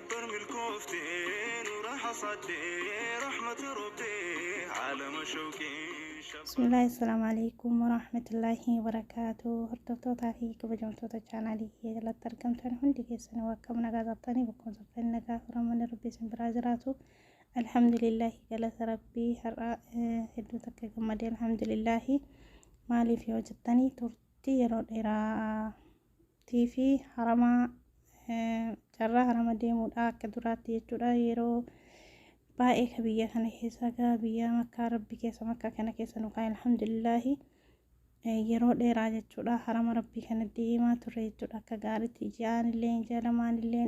Bar milkoofte nura hasaadde rahmata robbe alama shawqee. Bismillah Assalamu alaikum warahmatullahi wabarakatuh Hordoftootaa fi kabajamtoota chaanaalii kiyya jalatti argamtan hundi keessanuu akkam nagaa qabtanii bakkoon softanii nagaa furamanni rabbi isin biraa jiraatu alhamdulillahi galata rabbii har'a hedduu takka gammadee alhamdulillahi maaliif yoo jettanii turtii yeroo dheeraa tii fi harama carraa harama deemuudha akka duraatti jechuudha yeroo baay'ee ka biyya kana keessa gaa biyya makkaa rabbi keessa makkaa kana keessa nu kaa alhamdulillaahi yeroo dheeraa jechuudha harama rabbii kana deemaa turre jechuudha akka gaariitti ji'aan illee jalamaan illee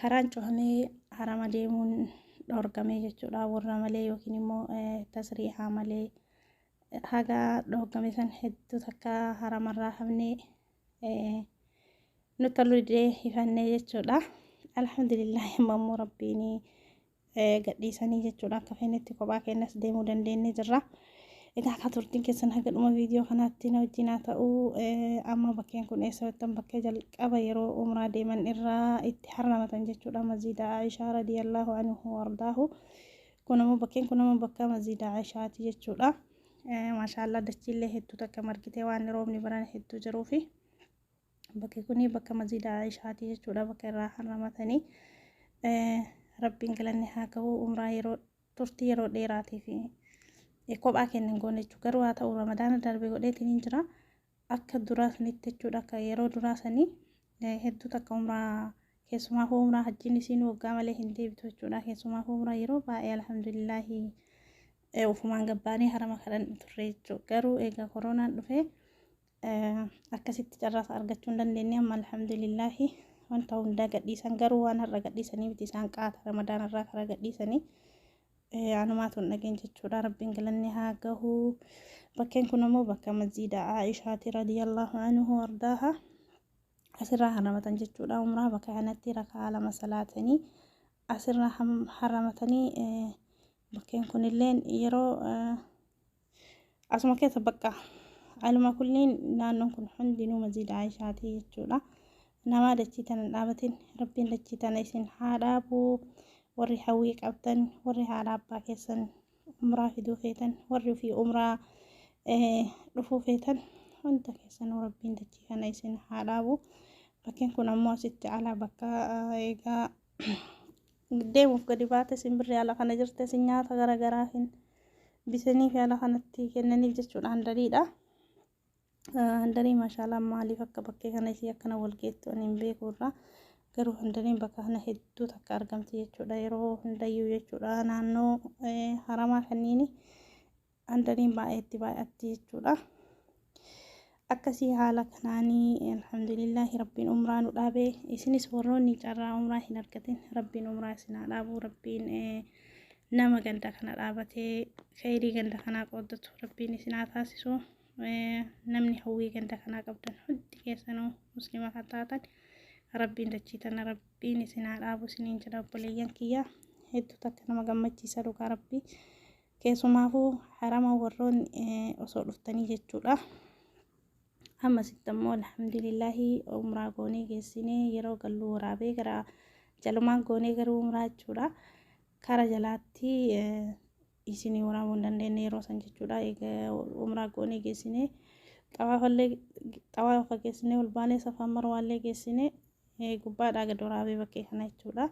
Karaan cufamee harama deemuun dhoorgamee jechuudha. Warra malee yookiin immoo tasriihaa malee haga dhoorgame san hedduu takka haramarraa hafnee nutti toluu didee hifannee jechuudha. Alhamdulillah amma immoo rabbiin gadhiisanii jechuudha akka feenetti kophaa keenyas deemuu dandeenye jirra. Egaa akka turtiin keessan haga dhuma viidiyoo kanaatti na wajjin haa ta'u amma bakkeen kun eessa jettan bakkee jalqaba yeroo umraa deeman irraa itti harramatan jechuudha maziida Aishaa radiyallahu anhu wardaahu kun ammoo bakkeen kun ammoo bakka maziida Aishaati jechuudha. Maashaallah dachiillee hedduu takka margitee waan roobni baran hedduu jiruufi. bakki kuni bakka masjiida Aishaati jechuudha bakka irraa harramatanii rabbiin galanni haa gahu umraa yeroo turtii yeroo dheeraatii fi kophaa keenya hin goone jechuudha garuu haa ta'u ramadaana darbe godheetiin hin jira akka duraa sanitti jechuudha akka yeroo duraa sanii hedduu takka umraa keessumaa hoo umraa hajjiin isiin waggaa malee hin deebitu jechuudha keessumaa hoo umraa yeroo baay'ee alhamdulillaahi ufumaan gabbaanii harama kadhan turre jechuudha garuu egaa koronaan dhufee akkasitti carraasa argachuu hin dandeenye amma alhamdulillaahi wanta hundaa gadhiisan garuu waan har'a gadhiisanii miti isaan qaata ramadaan irraa karaa gadhiisanii anumaatu hin dhageen jechuudha rabbiin galanni haa gahu bakkeen kun ammoo bakka masjiida aishaati radiyallahu anhu ardaaha asirraa haramatan jechuudha umraa bakka kanatti rakaa lama salaatanii asirraa haramatanii bakkeen kunilleen yeroo asuma keessa bakka aluma kulliin naannoon kun hundinuu masjiida Aayishaatii jechuudha. Namaa dachii tana dhaabatin rabbiin dachii tana isin haa dhaabu warri hawwii qabdan warri haadha abbaa keessan umraa fiduu feetan warri ofii umraa dhufuu feetan hunda keessan rabbiin dachii kana isin haa dhaabu. Bakkeen kun ammoo asitti ala bakka egaa deemuuf gadi baate isin birri ala kana jirte isin nyaata gara garaa hin bitaniif ala kanatti kennaniif jechuudha handariidha. Handarii maashaalaa maaliif akka bakkee kana isii akkana wal geettu ani hin beeku irraa garuu handariin bakka kana hedduu takka argamti jechuudha yeroo hundayyuu jechuudha naannoo haramaa kanniini Andaniin baay'eetti baay'atti jechuudha. Akkasii haala kanaanii alhamdulillahi rabbiin umraa nu dhaabe isinis warroonni carraa umraa hin argatin rabbiin umraa isin haa dhaabu rabbiin nama ganda kana dhaabatee kheyrii ganda kanaa qooddatu rabbiin isin haa taasisu namni hawwii ganda kanaa qabdan hundi keessanuu muslima kan taatan rabbiin dachii tana rabbiin isin haa dhaabu isiniin jedha obboleeyyan kiyya hedduu takka nama gammachiisa dhugaa rabbii. Keessumaafuu harama warroonni osoo dhuftanii jechuudha. Ammasitti ammoo alhamdulillahi umraa goonee geessinee yeroo galluu waraabee gara jalumaan goonee garuu umraa jechuudha. Kara jalaatti isinii waraabuu hin dandeenye yeroo san jechuudha. Egaa umraa goonee geessinee xawaafallee xawaafa geessinee ol baanee safaan marwaallee geessinee gubbaadhaa gad waraabee bakkee kana jechuudha.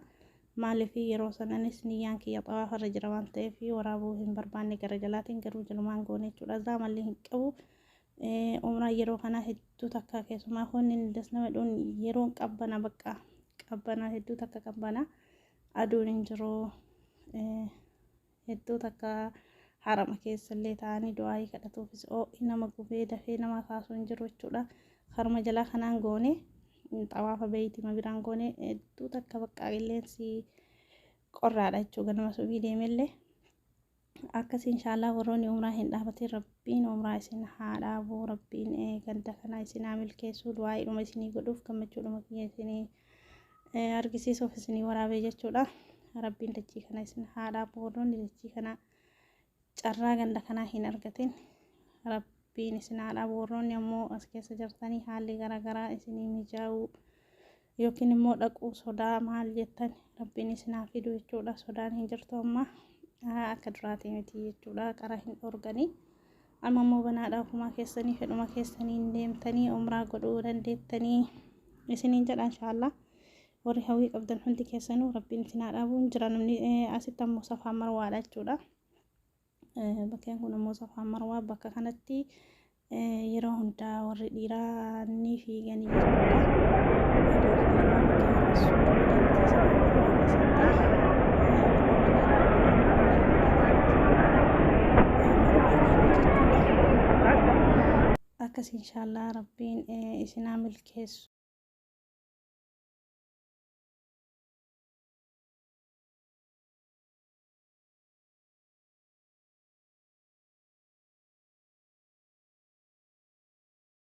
Maaliif yeroo sananis niyyaan kiyya xawaafarra jira waan ta'eef waraabuu hin barbaanne gara jalaatiin garuu jalumaan goone jechuudha. Zaa malli hin qabu. Umraa yeroo kanaa hedduu takka keessumaa honni das nama dhuun yeroon qabbana bakka qabbana hedduu takka qabbana aduun hin jiru. hedduu takka harama keessallee ta'anii du'aayii kadhatuufis oo'i nama gubee dafee nama kaasuu hin jiru jechuudha haruma jalaa kanaan goone xawaafa beeytima biraan goone hedduu takka baqqaa qilleensi qorraadha jechuudha ganama subii deemellee akkasii inshaallah warroonni umraa hin dhaabatiin rabbiin umraa isin haa dhaabuu rabbiin ganda kanaa isin haa milkeessuu du'aayiidhuma isinii godhuuf gammachuudhuma kiyya isinii argisiisuuf isinii waraabee jechuudha. Rabbiin dachii kana isin haadhaa boodoonni dachii kana carraa ganda kanaa hin argatin. Rabbiin isin haadhaa boorroonni ammoo as keessa jirtanii haalli garaagaraa isinii mijaa'uu yookiin immoo dhaquu sodaa maal jettan rabbiin isin haa fidu jechuudha. Sodaan hin jirtu amma akka duraatii miti jechuudha. Qara hin dhorganii Amma immoo banaadha ofumaa keessanii fedhuma keessaniin deemtanii umraa godhuu dandeettanii isiniin jedha inshaallah warri hawwii qabdan hundi keessanuu rabbiin isin haa dhaabuun jira namni asitti ammoo safaa marwaadha jechuudha bakkeen kun ammoo safaa marwaa bakka kanatti yeroo hundaa warri dhiiraa ni fiiganii akkas inshaallah rabbiin isinaa milkeessu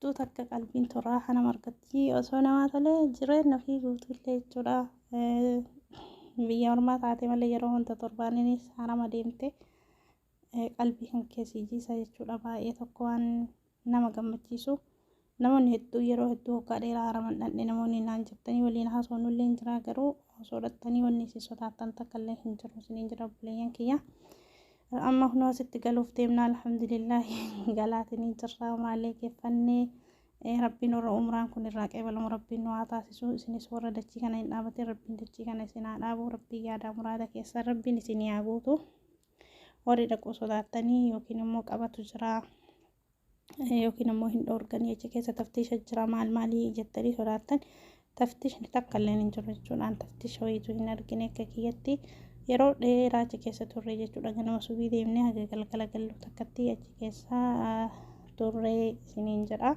Guutuu takka qalbiin turaa hanam argatti osoo namaa tolee jireenna ofii guutuu illee jechuudha biyya ormaa taate malee yeroo hunda torbaaninis hanama deemte qalbii kan keessi jiisa jechuudha baay'ee tokko waan nama gammachiisu namoonni hedduu yeroo hedduu hoggaa dheeraa haraman dhandhe namoonni naan jettanii waliin haasawnu illee hin jiraa garuu osoo dhattanii wanni isin sodaattan takka illee hin jiru isiniin jira obboleeyyan kiyya Amma kunoo asitti galuuf deemna alhamdulillahi galaatinii jirraa maalee geeffannee rabbiin warra umraan kun irraa qeebalamu rabbiin nu haa taasisu isinis warra dachii kana hin dhaabatin rabbiin dachii kana isin haa dhaabu rabbiin yaadaa muraada keessan rabbiin isin haa guutu warri dhaquu sodaattanii yookiin immoo qabatu jiraa yookiin ammoo hin dhoorganii achi keessa taftiisha jira maal maalii jettanii sodaattan taftiishni takka illee hin jiru jechuudhaan taftiisha wayiitu hin argine akka kiyyatti yeroo dheeraa achi keessa turre jechuudha ganama subii deemnee haga galgala gallu takkatti achi keessa turre isiniin jedha.